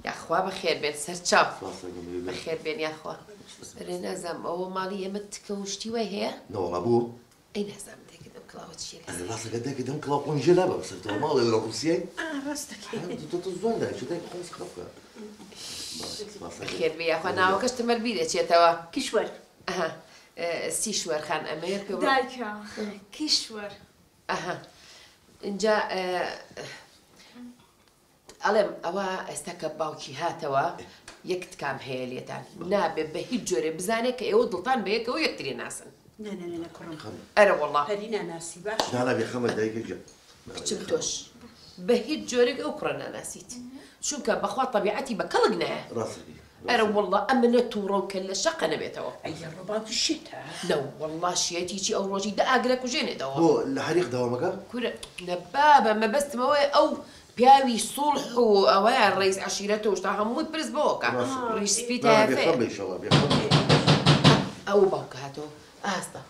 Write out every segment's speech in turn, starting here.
یاخوا بەخێر بێن سەرچاو بەخێر بێن یاخوا لێ نازام ئەوە ماڵی ئێمە تکە و شتی وای هەیە نەوەڵا بوو ئەی نازام دەکردم کڵاوە چی ڕاستەکە دەکردم کڵاو خۆم ژێ لابە سەرەوە ماڵێ لە ڕوسیای زۆر داچ دای خۆم خەفە خێر بێ یاخوا ناوەکەش تمەر بی دەچێتەوە کیشوەر سیشوەرخان ئەمێر دایکە کیشوەر ئەها ئینجا ئەڵێم ئەوە ئێستا کە باوکی هاتەوە یەک تکام هەیە لێتان نابێ بە هیچ جۆرێ بزانێت کە ئێوە دڵتان بە یەکەوە یەکترێ ناسن نه نه نه کوڕم ئەرە وەڵڵا پەری ناناسی باش نانا بێ خەمە دایکە گیان کچم تۆش بە هیچ جۆرێک ئەو کوڕە ناناسیت چونکە بەخوا تەبیعەتی بە کەڵک نایە ڕاست دەکەی ئەرەوەڵڵا ئەمنە توڕە و کەللە شەقە نەبێتەوە. ئەی یە ڕەبا بشێتە. نە وەڵڵا شێتی چی ئەو ڕۆژی دە ئاگر ئەکوژێنێتەوە. بۆ لە هەریق دەوام ئەکا؟ کورە نە بابە مەبەستم ئەوەیە ئەو پیاوی سوڵح و ئەوەیە ڕەیس عەشیرەت و شتە هەمووی پرس بەوە کە ڕیش سپی تایەفەیە. بێخەم بە ئیشەڵا بێخەم بە. ئەوە باوکە هاتەوە ئاستە.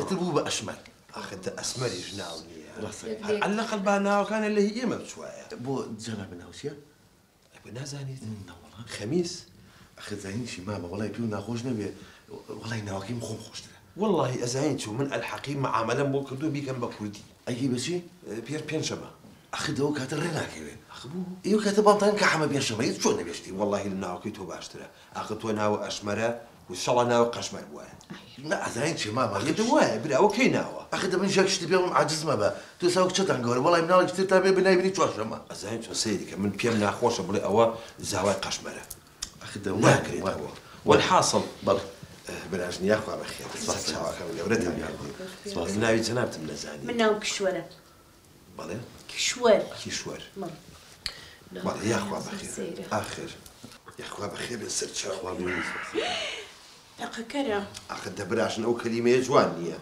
ئیتر بوو بە ئەشمەر. ئاخر دە ئەسمەریش ناو نییە. ڕاستە. هەر عەللەقەل با ناوەکانیان لە هی ئێمە بچوایە. بۆ جەنابی ناو چییە؟ ئەبێ نازانیت؟ نەوەڵا. خەمیس. ئاخر زانین چی مامە؟ وەڵای پێو ناخۆش نەبێ وەڵای ناوەکەی من خۆم خۆشترە. وەڵاهی ئەزانیت چۆن من ئەلحەقی مەعامەلەم بۆ کردووە بیکەم بە کوردی. ئەیکەی بە چی؟ پێر پێنجشەمە. ئاخر دە ئەو کاتە ڕێ ناکەوێ. ئاخ بۆ؟ ئێ ئەو کاتە بانگ دەکەن کە حەمە پێنجشەمە ئیتر چۆن نەبێ شتی وەڵاهی لە ناوەکەی تۆ باشترە. ئاخر تۆ ناوە ئەشمەرە و شەڵا ناوە قەشمەر بوایە. نا ئەزانیت چیە مامە یەکەم وایە برا ئەوە کەی ناوە. ئەخە دە من ژاک شتی بێڵم عاجز مەبە تۆ ساو کچەتان گەورە وەڵای مناڵی پتر تا بێ بنای بنی چوارشەمە. ئەزانی چۆن سەیری کە من پێم ناخۆشە بڵێ ئەوە زاوای قەشمەرە. ئەخە دە وا کرێ وا بوە. وەل حاسڵ. بەڵێ براژن یاخوا بەخێر سەر چاوەکەم گەورەتان کردم من ناوی جەنابتم نەزانی. من ناوم کیشوەرە. بەڵێ کیشوەر کیشوەر بەڵێ بەڵێ یاخوا بەخێر سەیرە ئاخر یاخوا بەخێر بێت سەرچاو خوا بمێنی سەر تەقەکەرە ئاخر دە براژن ئەو کەلیمەیە جوان نییە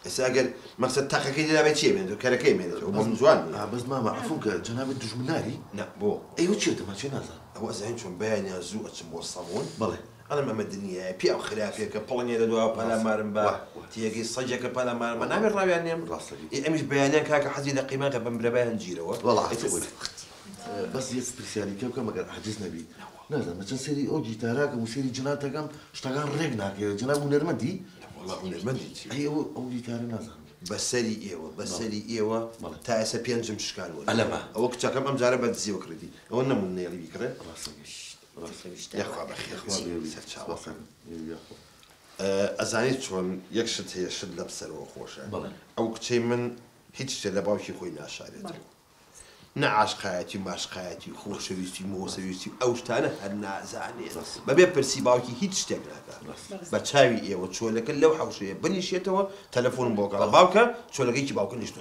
ئێستا ئەگەر مەقسەد تەقەکەی لێ دابێت چییە بمێنێتەوە کەرەکەی بمێنێتەوە بەس جوان نییە ئا بەس مامە عەفوم کە جەنابت دوژمناری نا بۆ ئەی ئەو چییە تەماچەی نازان ئەوە ئەزانن چۆن بەیانیان زوو ئەچن بۆ سەموون بەڵێ ئەڵێم ئەمە دنیایە پیاو خراپێکە پڵنگێ لە دواوە پەلامارم با تیەکەی سەگێکە پەلامارم با نابێ ڕاویان نێم ڕاستەکەی ئەمیش بەیانیان کاکە حەزی لە قیماغ بە مرەبایان گیرەوە وەڵا حەزی خۆی بەس یەک پرسیاری پێ بکەم ئەگەر عاجز نەبی نازانم چەند سەیری ئەو گیتاراکەم و سەیری جناتەکەم شتەکان ڕێک ناکەوێت جناب هونەرمەندی وەڵا هونەرمەندی چی ئەی ئەو ئەو گیتارە نازانم بەسەری ئێوە بەسەری ئێوە بەڵێ. تا ئێستا پێنجم شکانوە ئەلەمە. ئەوە کچەکەم ئەمجارە بە دزیەوە کڕیدی ئەوە نەموون نێڵی بیکڕێ ڕاستەکەی یاخوا بەخێر چی سەرچاوە ئەزانیت چۆن یەک شت هەیە شت لەم سەرەوە خۆشە ئەو کچەی من هیچ شتێ لە باوکی خۆی ناشارێتەوە نە عاشقایەتی ماشقایەتی خۆشەویستی مۆسەویستی ئەو شتانە هەر نازانێت بەبێ پرسی باوکی هیچ شتێک ناکات بە چاوی ئێوە چۆلەکە لەو حەوشەیە بنیشێتەوە تەلەفۆنم بۆ گەڵا باوکە چۆلەکەیکی باوکە نیشتە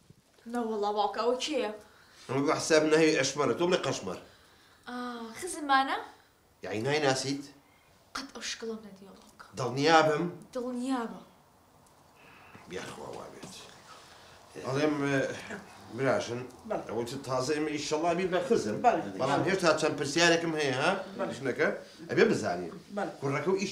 نەوەڵا باوکە ئەوە کێیە؟ ئەمە بە حساب ناوی ئەشمەرە تۆ بڵێ قەشمەر. ئا خزم مانە؟ یەعنی نایناسیت؟ قەت ئەو شکڵەم نەدیوە باوکە. دڵنیابم؟ دڵنیابە. یاخوا وابێت ئەڵێم براژن ئەوەت تازە ئێمە ئیشەڵا بی بە خزم بەڵام هێشتا چەند پرسیارێکم هەیە ها ژنەکە ئەبێ بزانین کوڕەکە و ئیش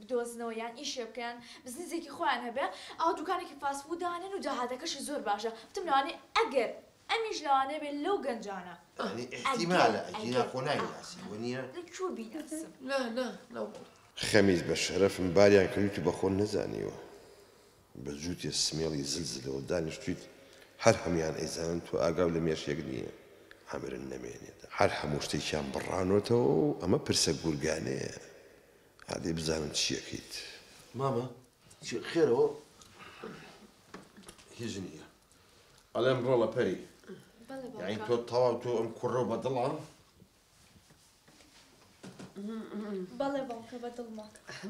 بدۆزنەوە یان ئیشێ بکەن بزنزێکی خۆیان هەبێ ئەوا دوکانێکی فاست فود دانێن و داهاتەکەشی زۆر باشە وتم لەوانەیە ئەگەر ئەمیش لەوانەیە بێ لەو گەنجانە یانی ئیحتیمالە ئەگینا خۆ نایناسی وە نیە لە کوێ بیناسم نا نا نا وەڵا. خەمیس بە شەرەفم باریان کردویت و بەخۆت نەزانیوە بە جووتێ سمێڵی زل زلەوە دانیشتویت هەر هەمویان ئەیزانن تۆ ئاگاو لە مێشێک نیە عەمرن نەمێنێت هەر هەموو شتێکیان بڕانۆتەوە و ئەمە پرسە گورگانەیە ئادەی بزانم چیەکەیت مامە چی خێرەوە هیچ نیە ئەلێم ڕۆڵە پەری یعنی تۆ تەواو تۆ ئەم کوڕە بە دڵان بەڵێ باوکە بە دڵمە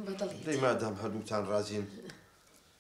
بەدڵی مادام هەردووتان ڕازین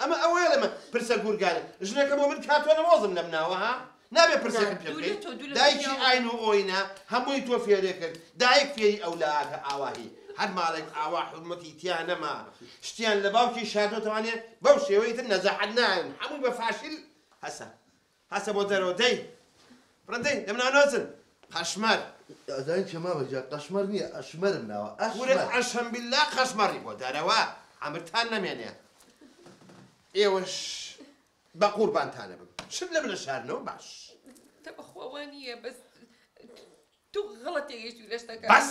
ئەمە ئەوەیە لە من پرسە گورگانێ ژنەکە بۆ من کاتۆ نەوۆزم لەم ناوە ها نابێ پرسێکم پێ بکەی دایکی ئاین و ئۆینە هەمووی تۆ فێرێ کرد دایک فێری ئەو لایاتە ئاواهی هەر ماڵێک ئاوا حورمەتی تیا نەما شتیان لە باوکی شاردۆتەوانێ بەو شێوەی تر نەجاحەت نایەن هەمووی بە فاشیل هەسە هەسە بۆ دەرەوە دەی بڕە دەی دەم نانۆزن قەشمەر. ئەزانی چیە مامە گیان قەشمەر نیە ئەشمەرم ناوە ئەشمەر. کورە قەشەم بیللا قەشمەڕی بۆ دەرەوە عەمرتان نەمێنێ ئێوەش بەقوربانتانەبم شت لەمن نەشارنەوە باش. تە بەخوا وا نییە بەس تۆ غەڵەت تێگەیشتووی لە شتەکان. بەس.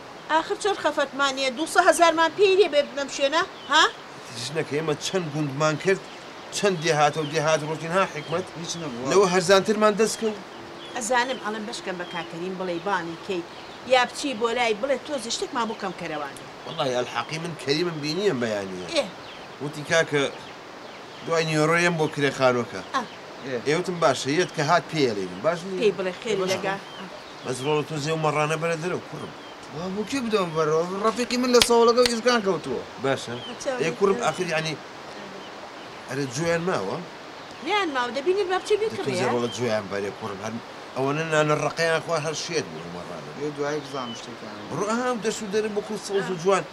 ئاخر چۆن خەفەتمان نیە دوو سە هەزارمان پێی نیە بێ بنەم شوێنە ها. ژنەکە ئێمە چەند گوندمان کرد چەند دێهاتەو دێهات ڕۆشتین ها حیکمەت هیچ نەبوو لەوە هەرزانترمان دەسکەوت. ئەزانم ئەڵێن بەشکەم بە کاک کەریم بڵێی بانگی کەیت یا بچی بۆ لای بڵێ تۆزێ شتێکمان بۆ کەم کەرەوە نێ. وەڵاهی ئەلحەقی من کەریمم بینیە بەیانیە ئێ. وتی کاکە دوای نیۆرۆ یەم بۆ کرێ خانوەکە ئێ ئێ وتم باشە یەت کە هات پێیەلینم باش نیە. پێی بڵێ خێری لە گا. بەس ڕۆڵە تۆ زێ و مەڕانە بەرە دەرەوە کوڕم. وا بۆ کێ بدەمە بەرەوە ڕەفیقی من لە سەوڵەگە و ئیزگان کەوتووە. باشە ئێ کوڕم ئاخر یانی ئەرێ جۆیان ماوە؟ نەیان ماوە دەبینی با بچێ بیکڕێ. تۆ زێ ڕۆڵە جۆیان بەرێ کوڕم هەر ئەوەنە نانە ڕەقیان خوا هەر شێت بوون و مەڕانە. بێ دوایی بزانم شتێکیان. بڕۆ ئەها ئەو دەشت و دەرە بۆ خۆی سەوز و جوان.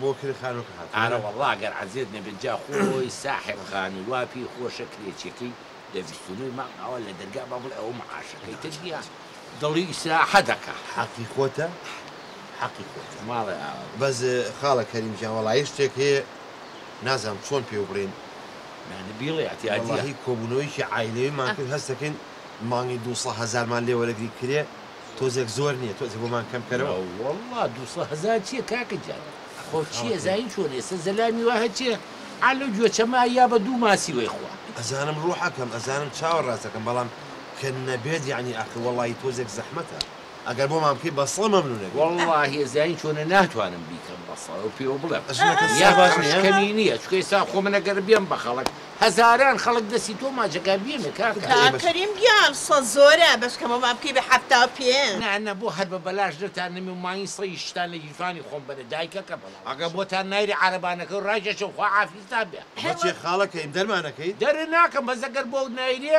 بۆ کرێ خانوکە هاتوە. ئارە وەڵا گەر عەزێت نەبێت جا خۆی ساحێب خانی وا پێی خۆشە کرێچیەکەی لە بیست و نۆی مانگ ئاوا لە دەرگا با بڵێ ئەوە معاشەکەی تر نیە دڵی ئیسراحە دەکا. حەقی خۆتە حەقی خۆتە. ماڵێ ئاوا بوو. بەس خاڵە کەریم گیان وەڵایی شتێک هەیە نازانم چۆن پێو بڵێین. نا نا بیڵێ ئەتیادیە. وەڵاهی کۆبوونەوەیەکی عایلەیمان کرد هەستەکەین مانگی دوو سە هەزارمان لێ وەرەگری کرێ تۆزێک زۆر نیە تۆزێک بۆمان کەم کەرەوە. ناوەڵا دوسە هەزار چیە کاکە گیان ئەخۆ چیە زین چۆن ئێسە زەلامی وا هەچیە عەلە گوێچە ما یا بە دوو ماسی وەی خوا. ئەزانم ڕوحەکەم ئەزانم چاوە ڕاستەکەم بەڵام کە نەبێت یەعنی ئاخر وەڵاهی تۆزێک زەحمەتە ئەگەر بۆمان بکەی بەسڵە مەمنونەبین. وەڵاهی زین چۆنە ناتوانم بیکەم بەسڵە پێوە بڵێم ژنەکە سەرباز نیە؟ یا قەرشکەنی نیە چونکە ئێستا خۆ من ئەگەر بێم بە خەڵک هەزاران خەڵک دەستی تۆ ماچەکە بیەمێ کاکە. کاک کەریم گیان سە زۆرە بەس کەمەوە بکەی بە حەفتا و پێ. نا نا بۆ هەر بە بەلاش نەتان نەمێ ماین سە ی شتان لە گیرفانی خۆم بەرە دایکەکەم ئەگە بۆتان نایرێ عارەبانەکەو ڕاکێشم خوا عافیزتان بێ. بەچێ خاڵە کەین دەرمانەکەی. دەرناکەم بەس ئەگەر بۆت نایرێ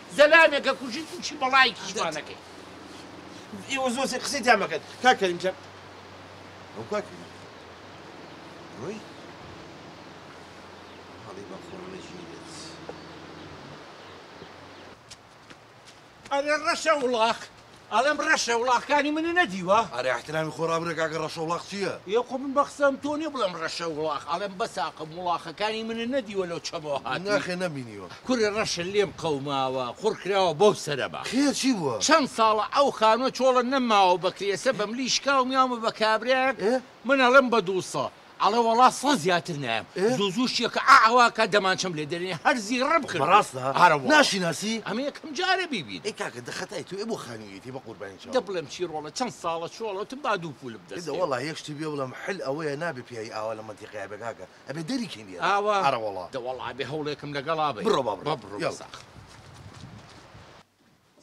زەلامێ کە کوژی توشی بەڵایکیش وا نەکەی ئێوە زۆر سەیر قسەی تیا مەکەن کاک کەریم جان ئەو کاک کەریم ڕۆی هەڵی بە خۆڕ نەژیرێت ئەرێ ڕەشە وڵاخ ئەڵێم ڕەشە وڵاخکانی منی نەدیوە. ئەرێ ئیحترامی خۆ ڕابگرە کاکە ڕەشە وڵاخ چیە. یە خۆ من بەقسەم تۆ نیە بڵێم ڕەشە وڵاخ ئەڵێم بەساقم وڵاخەکانی منت نەدیوە لەو چەمەوە هاتوی. نەخێر نەمبینیوە. کورە ڕەشە لێم قەوماوە قوڕ کراوە بەو سەرەبا. خێر چی بووە؟ چەند ساڵە ئەو خانوە چۆڵە نەماوە بە کرێسە بەملی شکاوم یاومە بە کابرایەک من ئەڵێم بە دووسە. ئەڵێ وەڵا سەد زیاتر نایەم زوو زوو شیەکە ئا ئەوا کە دەمانچەم لێ دەرێنێ هەر زیڕم کرد بەڕاستە ئارە وەڵا ناشیناسی ئەمە یەکەم جارە بیبینم ئەی کاکە دە خەتای تۆیە بۆ خانوویەتی بە قوربانی چاوت دە بڵێم چی ڕۆڵە چەند ساڵە چۆڵەوتم با دوو پوولم دەست کەوێ. وەڵا یەک شتی بێ بڵێم حل ئەوەیە نابێ پیاوی ئاوا لە مەنتیقەیا بێ کاکە ئەبێ دەری کەین لێرە ئاوا ئارە وەڵا دە وەڵا ئەبێ هەوڵێکم لەگەڵا بەین بڕۆ با بڕۆ بڕۆ یاڵا.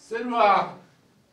سروە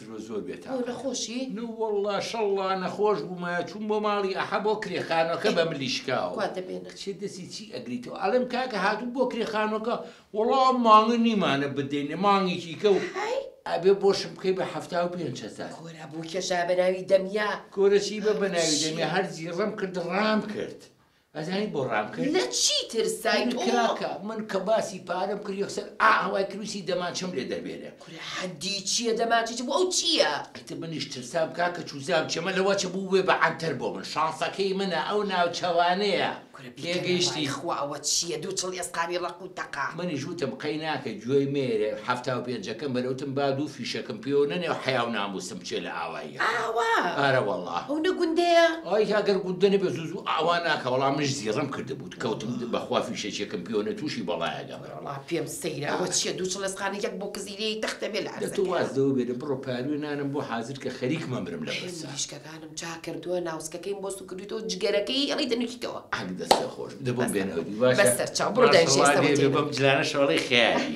ژنە زۆر بێ تاقەتە. بۆ نەخۆشی؟ نووەڵڵا شەڵڵا نەخۆش بوومایە چووم بۆ ماڵی ئەحە بۆ کرێ خانووەکە بە ملی شکاو. کوا دەمێنن؟ کچێ دەسی چی ئەگریتەوە ئەڵێم کاکە هاتووم بۆ کرێ خانووەکە وەڵا ئەم مانگە نیمانە بدەینێ مانگێکی کە و هەی. ئەبێ بۆشم بکەی بە حەفتا و پێنج هەزار. کورە بۆ کێشایە بە ناوی دەمیا. کورە چی بە بە ناوی دەمیا هەر زیڕەم کرد ڕام کرد. ئەزانی بۆ ڕام کرد؟ لە چی ترسای تۆ؟ کاکە من کە باسی پارەم کرد یەکسەر ئااوای کرد ویستی دەمانچەم لێ دەربێنێ. کورە حەدی چیە دەمانچە چ بۆ ئەو چیە؟ ئیتر منیش ترسام کاکە چوزام چەمە لە وەچە بوبێ بە عەنتەر بۆ من شانسەکەی منە ئەو ناوچەوانەیە کورە بیکەرە بای تێگەیشتی؟ خوا ئەوە چیە دوو چڵ ئێسقانی ڕەق و تەقە. منیش وتم قەی ناکە گوێی مەیەرێ حەفتا و پێنجەکەم بەرێ وتم با دوو فیشەکم پێوە نەنێ و حەیا و ناموسم بچێ لە ئاوای. ئاوا ئارەوەڵا. ئەو نە گوندەیە؟ ئای ئەگەر گوندە نەبێ زوو زوو ئاوا ناکا بەڵام منیش زیڕەم کردبوو کەوتم بەخوا فیشەکێکم پیۆنە تووشی بەڵایەکە بەرەڵا. وەڵا پێم سەیرە ئەوە چیە دوو چڵێسقانە یەک بۆ کزیرەیەی تەختە بێ لە دە تۆ واز عەرزەکەیە. لەوە بێنە بڕۆ پاروێ نانم بۆ حازر کە خەریک مەمرم لە حەیف پرسە. مریشکەکانم چا کردووە ناوسکەکەیم بۆ سوکردویتەوە جگەرەکەی ئەڵی دەنووکیتەوە. عەک دەستت خۆش بێ دە بۆم بەسە بێنەوە دی بەس باشە. سەرچاو بڕۆ دایشی ماشەڵا ئێستە لێ بێ وەتێنن. بەم جلانە شەڵەی خەیالی.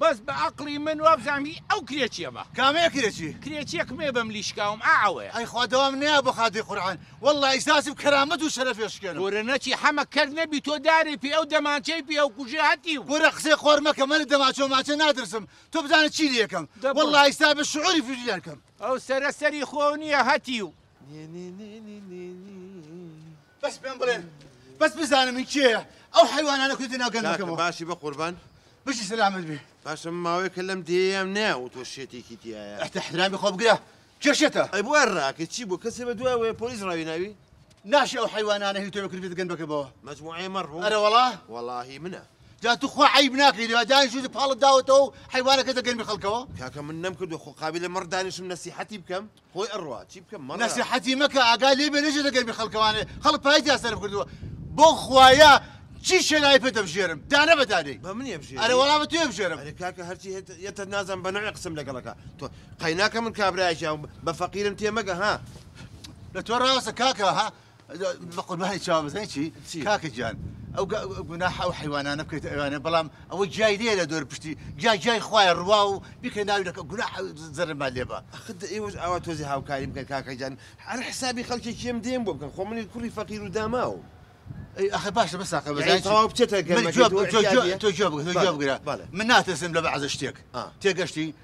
بەس بە ئەقڵی من وابزانم هی ئەو کرێچیە بە. کامەیە کرێچی؟ کرێچیەک مێ بەم لیشکاوم ئا ئەوەیە. ئەی خوا دەوام نەیا بۆ خاتری قورعان واللە ئیساسم کەرامەت و شەرەفی ئەشکێنم. کورە نەچی حەمە کەر نەبی تۆ دارێ پێ ئەو دەمانچەی پێ ئەو کوژێ هەتیو. کورە قسەی قۆڕ مەکە من لە دەماچەو ماچە ناترسم تۆ بزانە چی لێ کەم واللە ئیستا بە شعوری فیشیان کەم. ئەو سەرە سەری خۆو نیە هەتیو. بەس پێم بڵێن بەس بزانم من کێیە ئەو حیوانانە کوردی ناو گەنجەکەمەوە باشی بە قوربان بژی سەلامت بێ باشە ماوەیەکە لەم دێیەم نێ و تۆ شێتێکی تایە ئەتە حرامی خۆ بگرە کێشێتە ئەی بۆ ڕاکە چی بۆ کەسێ بە دوای وەیە پۆلیس ڕاوی ناوی ناشێ ئەو حیوانانە هی تۆ بکرد بێت گەنبەکەبەوە مەجموعەیە مەڕوو ئەرە وەڵا وەڵاهی منە جا تو خوا عیب ناکەی لێ دانی شوت پاڵت داوەتەوە و حیوانەکە دەگەن بە خەڵکەوە کاکە من نەم کردو خۆ قابلە مەڕ دانیشم نەسیحەتی بکەم خۆی ئەڕوا چی بکەم مەڕ. نەسیحەتی مەکە ئاگات لێ بێ نەچێتە گەرمی خەڵکەوانێ خەڵک پای تیا سەرف کردووە بۆ خوایە چی شێناوی پێ دەبژێرم دانە بە دانەی بە منی ئەبژێری ئەرێ وەڵا بە تۆی ئەبژێرم ئەرێ کاکە هەرچی هێت یەتت نازم بە نەوعێ قسەم لەگەڵ ئەکا تۆ قەیناکە من کابرایەکی ئەوم بە فەقیرم تێ مەگە ها لە تۆ ڕاوەسە کاکە ها. بەقوربانی چاوە بزای چی کاکە گیان ئەو گوناح ئەو حیوانانە بکەیت ئەوانە بەڵام ئەوە جای لێ لە دۆر پشتی جا جای خوای ڕوا و بکە ناوی لەکە گوناح زەرما لێبە خد ئێوەش ئاوا تۆزی هاوکاری بکەن کاکە گیان هەر حسابی خەڵکی کێم دێم بۆ بکەن خۆ منی کوڕی فەقیر و داماوم ئەخ باشە بە ساقە بەزای تەواو بچێتە گەر تۆ جواب بگرە من ناتەسم لە بەعزە شتێک تێگەشتی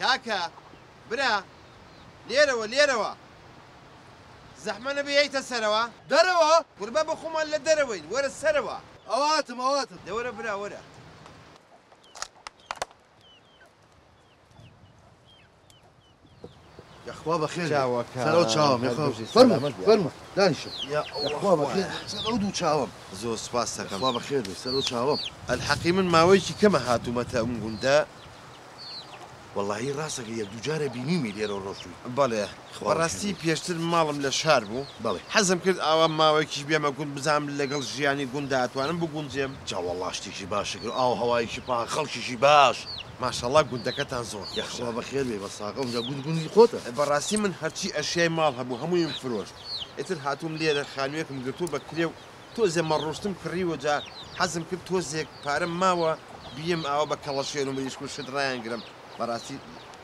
کاکە برا لێرەوە لێرەوە زەحمە نەبێ یەیتە سەرەوە. دەرەوە؟ کورە بابە خۆمان لە دەرەوەین وەرە سەرەوە. ئەواتم ئەواتم دە وەرە برا وەرە. یاخوا بەخێر سەر ئەو چاوم فەرموو دانیشە یاخوا بەخێر سەر ئەو دوو چاوم زۆر سوپاس دەکەم خوا بەخێر بێ سەر ئەو چاوم ئەلحەقی من ماوەیەکی کەمە هاتوومەتە ئەم گوندە وەڵی ڕاستەکە یەک دوو جارە بینیومی لێرە ڕۆشتوی بەڵێ خوڕاستی پێشتر ماڵم لە شار بوو بەڵێ حەزم کرد ئاوا ماوەیەکیش بێمە گوند بزام لەگەڵ ژیانی گوندا ئەتوانم بگونجێم جاوەڵاشتێکی باشەکە ئاو هەوایکی پاک خەڵکیشی باش ماشاڵا گوندەکەتان زۆر خۆشە. یاخوا بەخێر بێی بەساغە ئونجا گوند گوندی خۆتە. بەڕاستی من هەرچی ئەشیای ماڵ هەبوو هەموویم فرۆشت ئیتر هاتووم لێرە خانوویەکم گرتووە بە کرێ و تۆزێ مەڕوشتم کڕیوە جا حەزم کرد تۆزێک پارەم ماوە بیێم ئاوا بە کەڵەشێر و مریشک و شت ڕایانگرم بەڕاستی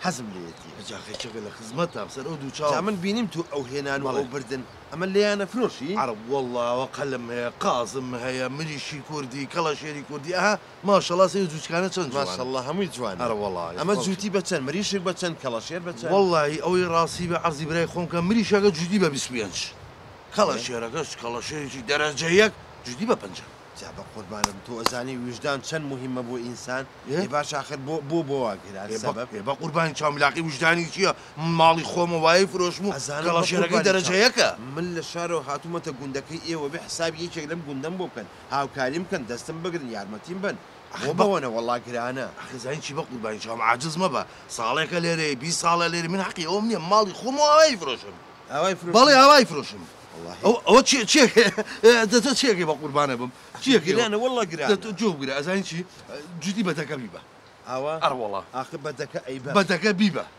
حەزم لێیەتی. جا خێچەکە لە خزمەتام سەر ئەو دوو چاوم. جا من بینیم تۆ ئەو هێنان و ئەو بردن ئەمە لێیان ئەفرۆشی؟ عەڕەب وەڵڵا ئەوە قەلم هەیە قازم هەیە مریشکی کوردی کەڵەشێری کوردی ئەها ماشەڵا سەیر جووچکانە چەند جوانن. ماشااللە هەمووی جوانە. ئەرەوەڵا. ئەمە جووتی بە چەند؟ مریشک بە چەند؟ کەڵەشێر بە چەند؟ وەڵاهی ئەوەی ڕاستی بێ عەرزی برای خۆم کەم مریشەکە جووتی بە بیست پێنج کەڵەشێرەکەش کەڵەشێرێکی دەرەجە یەک جووتی بە پەنجا. جا بە قوربانم تۆ ئەزانی ویژدان چەن موهیمە بۆ ئینسان ئێ باش ئاخر بۆ بۆ بۆ وا کرا سەبەب. ئێ بە قوربانی چاو ملاقەی ویژدانی چیە من ماڵی خۆمە وای فرۆشم و کەڵەشێرەکەی دەرەجە یەکە. من لە شارەوە هاتوومەتە گوندەکەی ئێوە بێ حساب یەکێک لەم گوندەم بۆ بکەن هاوکاریم بکەن دەستم بگرن یارمەتیم بەن بۆ بەوەنە وەڵا گرانە. ئەخی زانی چی بەقوربانی چاوم عاجز مەبە ساڵێکە لێرەی بیست ساڵە لێرەی من حەقی ئەوم نیە ماڵی خۆم و ئاوای فرۆشم ئاوای فرۆشم بەڵێ ئاوای فرۆشم ئەوە ئەوە چیە چیەکێ دە تۆ چیەکێ بەقوربانە بم چیەکێ گرانە وەڵا گرانە دە تۆ جۆ بگرە ئەزانی چی جوتی بە دەکە بیبە ئاوا ئەڕ وەڵا ئاخ بە دەکە ئەیبە بە دەکە بیبە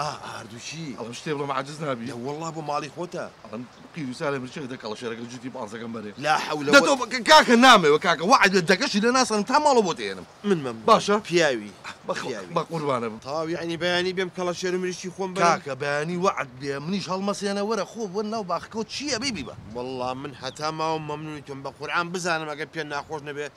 ئا هاردووچی ئەڵم شتێ بڵێم عاجز نابی. نە وەڵڵا بۆ ماڵی خۆتە. ئەڵم قیر و سارێ مرچێک دە کەڵەشێرەکە جووتی پانسەکەم بەرێ. لا حەولە وە. دەتۆ کە کاکە نامەوێ کاکە وەعد بێ دەکەشی لێ ناسەنم تا ماڵەوە بۆت ئێنم. من مەم باشە پیاوی پیاوی. بە قوربانە بم. تەواو یەعنی بەیانی بێم کەڵەشێر و مریشکی خۆم بەرم. کاکە بەیانی وەعد بێ منیش هەڵمەسێنە وەرە خۆ بۆ ناو باخەکەوە چییە بی بیبە. وەڵڵا من هەتا ماوم مەمنونی تۆم بە قورعان بزانم ئەگەر پێ ناخۆش نەبێ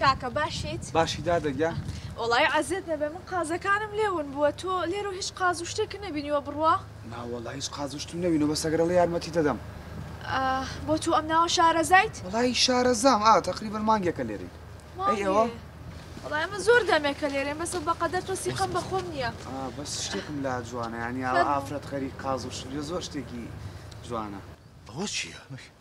کاکە باشیت؟ باشی دادە گیان. وەڵای عەزێت نەبێ من قازەکانم لێ ون بووە تۆ لێرەو هیچ قاز و شتێکت نەبینیوە بڕوا؟ نا وەڵا هیچ قاز و شتم نەبینوە بەس ئەگەر ئەڵێی یارمەتیت ئەدەم. ئا بۆ تۆ ئەم ناوە شارەزایت؟ وەڵای شارەزام ئا تەقریبەن مانگێکە لێرەین. ئەی ئێوە؟ وەڵای ئێمە زۆر دەمێکە لێرەین بەس بە قەدەر تۆ سیقەم بە خۆم نییە. ئا بەس شتێکم لا جوانە یانی ئاوا ئافرەت غەریق قاز و شت زۆر شتێکی جوانە. ئەوە چییە؟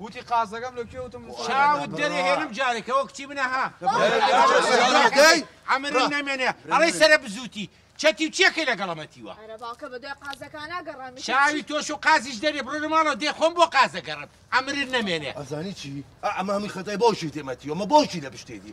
وتی قازەکەم لە کوێ وتم چاوت دەرێ هێنم جارێ کەەوە کچی منە ها ئەمرم نەمێنێ ئەڵی سرە بزوتی چەتی و چێکەی لەگەڵەمەتیوە چاوی تۆش و قازیش دەرێ بڕۆ ماڵەوە دێ خۆم بۆ قازەگەڕم ئەمرت نەمێنێ ئەزانی چی ئەمامی خەتای بۆشی تێمەتیوە مە بۆشی لە پشتێتی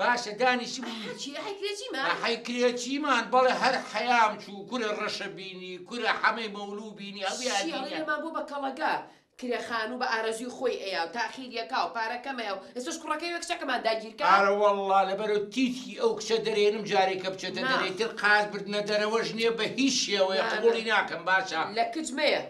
باشە دانیشبووی ئەحە چی ئەحەی کرێچیمان؟ ئەحەی کرێچیمان بەڵێ هەر حەیام چوو کورە ڕەشە بینی کورە حەمەی مەولوو بینی هەموویان شیاڵی بینیان لێمان بوو بە کەڵەگا کرێ خانوو بە ئارەزووی خۆی ئەیا و تاخیر ئەکا و پارە کەم ئەیا و ئێستەش کوڕەکەی وێ کچەکەمان داگیر کا. ئارەوەڵڵا لەبەرو تیتکی ئەو کچە دەرێنم جارێکە بچێتە دەرێ ماف. تر قاز بردنە دەرەوەش نیە بە هیچ شێوەیە مامە. قبوڵی ناکەم باشە. لە کچ مەیە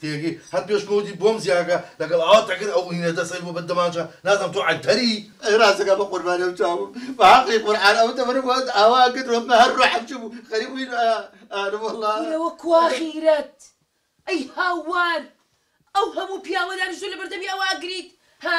تێگەی هەر پێش تۆ وتی بۆم زیاکە لەگەڵ ئاوات ئەگەر ئەو هینە دەست ئەوی بۆ بە دەمانچە نازم تۆ عەنتەری. ئەی ڕاستەکا بە قوربانی ئەو چاوم بە حەقی قورعان ئەو تەمەنم وات ئاوا ئەکرد وەمە هەر ڕۆحم چبوو خەریک بووین ئانم وەڵا. کورەوە کوا غیرەت ئەی هاوار ئەو هەموو پیاوە دانیشتوە لەبەردەمی ئەوە ئەگریت ها